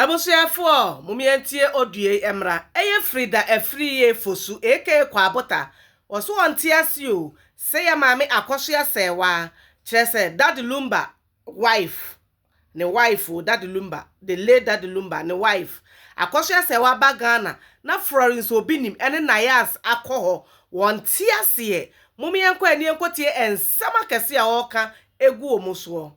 Abusuafoɔ momeɛntie ɔduei mmra ɛyɛ firi da afiri yɛ fosu aka kwaabota wɔso wɔnte ase o sɛ yɛ maame akɔso asɛɛ waa kyerɛ sɛ daddy lumba wife ne wife o daddy lumba the late daddy lumba ne wife akɔso asɛɛ waa ba Ghana na Florence obinim ɛne nayas akɔ hɔ wɔnte aseɛ momeɛnkɔ anie nkɔtie ɛnsɛm akɛse a ɔɔka egu wɔn soɔ.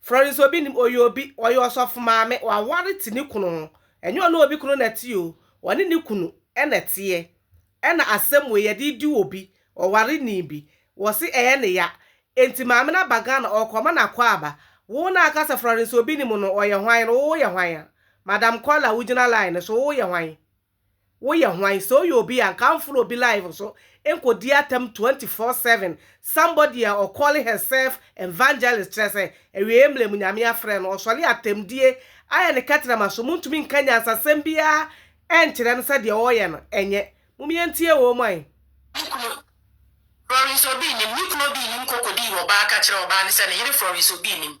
Florence obi nim ɔyɛ obi ɔyɛ ɔsɔfo maame waware te ne kunu ho ɛnyɛ ɔne obi kunu na ɛte o ɔne ne kunu ɛna ɛteɛ ɛna asɛm wei yɛde di obi ɔware nii bi wɔse ɛyɛ ne ya enti maame no aba Ghana ɔkɔ ma no akwaaba wo na aka sɛ Florence obi nim no ɔyɛ hwan no wo yɛ hwan a madam kɔla wo gyina line so wo yɛ hwan. Woyɛ hwan sɛ woyɛ obi a nka amfolo obi live so nkɔ di atam twenty four seven somebody a ɔ call her self evangelist kyerɛ sɛ awieɛ mmerɛ mu nyame afrɛ no ɔsɔre atamdie ayɛ ne kɛtrɛma so montumi nka nyansasɛm biara ɛnkyerɛ no sɛ deɛ ɔɔyɛ no ɛnyɛ mom yɛntie wɔ mu ae. Me kunu, Florence Obi nnim, me kunu Obi nnim kɔ kɔdii ɔbaa ka kyerɛ ɔbaa no sɛ ne yere Florence Obi nnim.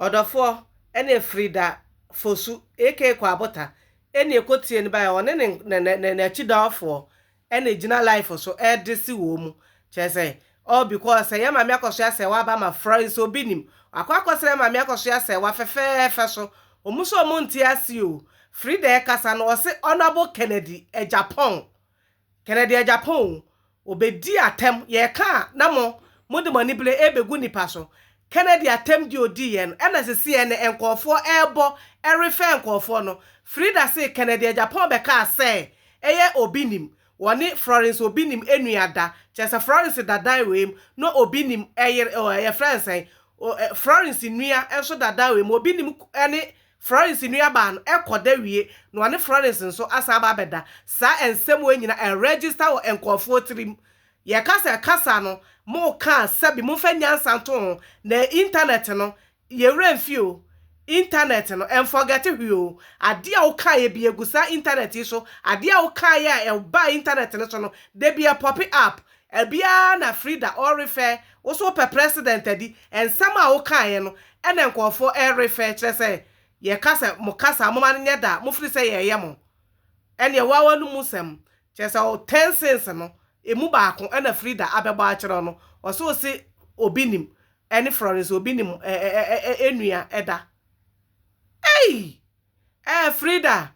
Ɔdɔfoɔ ne Frida Fosu aka Kwabota ne ɛkɔtie no baeɛ, ɔne ne n'akyidɔɔfoɔ na ɛgyina life so de se wɔn mu, kyerɛ sɛ all because sɛ yɛn Maame Akɔsoɛ Asɛɛwa aba ma frɔe nso obi nim, wakɔ akɔsra yɛn Maame Akɔsoɛ Asɛɛwa fɛfɛɛfɛ so, wɔn nso wɔn nte aseɛ o, Frida ɛkasa no ɔse Honourable Kennedy Agyapong Kɛnɛ deɛ Japan o, ɔbɛdi atɛm, yɛreka a na mo, mode mo anibere rebɛgu nnipa so. Kɛnɛ deɛ atɛm deɛ ɔdiiɛ no, ɛna sisi ɛnnɛ nkorɔfoɔ rebɔ refɛɛ nkorɔfoɔ no. Frida see Kɛnɛ deɛ Japan bɛkaa sɛɛ ɛyɛ Obinim, wɔne Florence Obinim nua da, kyerɛ sɛ Florence da dan wei mu na Obinim yere, yɛfrɛ no sɛn, Florence nua nso da dan wei mu, Obinim ne Florence nuabaa no kɔ da wie na ɔne Florence nso asan aba abɛda. Saa nsɛm wei nyina ɛ register wɔ nkurɔfoɔ tirim. Yɛka sɛ kasa no mo ka a sɛbi momfa nyansa nto ho na internet no yɛ werɛ mfi o. Internet no nforgɛte hwee o. Adeɛ a wo kaeɛ bi ɛgu saa internet yi so. Adeɛ a wo kaeɛ a ɛbaa internet no so no dabi ɛpɔpe up. Ɛbiaa na Frida ɔrefɛ wo so wopɛ president adi ɛnsɛm a wokaeɛ no ɛna nkurɔfoɔ ɛrefɛ kyerɛ sɛ yɛka sɛ mo kasa a moma no nyɛ da mofiri sɛ yɛɛyɛ mo ɛneɛ woa wanomu sɛm kyerɛ sɛ wo ten sins no ɛmu baako ɛna Frida abɛbɔ akyerɛ wo no ɔse wo se obi nim ɛne Florence obi nim ɛɛ ɛɛ ɛɛ ɛnua ɛda ei ɛɛ Frida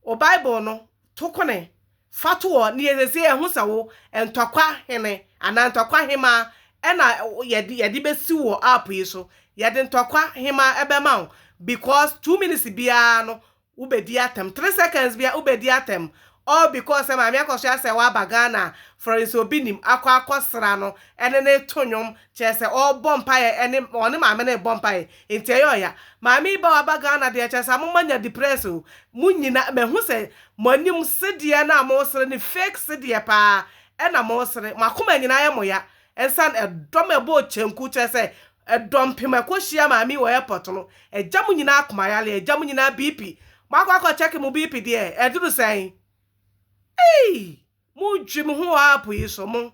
O Bible no to kone fa to ɔ ne yɛ sɛsei ɛho sɛ wo ntɔkwa hene anaa ntɔkwa hemaa ɛna yɛde yɛde bɛsi wɔ app yi so yɛde ntɔkwa hemaa ɛbɛma wo because two minutes biara no wo bɛdi atɛm three seconds biara wo bɛdi atɛm all because sɛ maame akɔsoa sɛ waba Ghana for nso obi nim akɔ akɔsra no ɛne ne to nwom Kyerɛ sɛ ɔbɔ mpaeɛ ɛne ɔne maame no rebɔ mpaeɛ nti ɛyɛ ɔya. Maame yi ba waba Ghana deɛ kyerɛ sɛ ama mo anya depress o. Mo nyina mahu sɛ mo anim sedeɛ no a mo resere no fake sedeɛ paa ɛna mo resere. Mo akoma nyina ayɛ mo ya ɛnsan ɛdɔm ɛbɔɔ kyenku kyerɛ sɛ ɛdɔmpem ɛkɔ hyia maame yi wɔ airport no agya mo nyina akoma yare agya mo nyina BP. Mo akɔ akɔ check mo BP deɛ ɛduru sɛn? Eii! Mo dwi mo ho wɔ app yi so mo.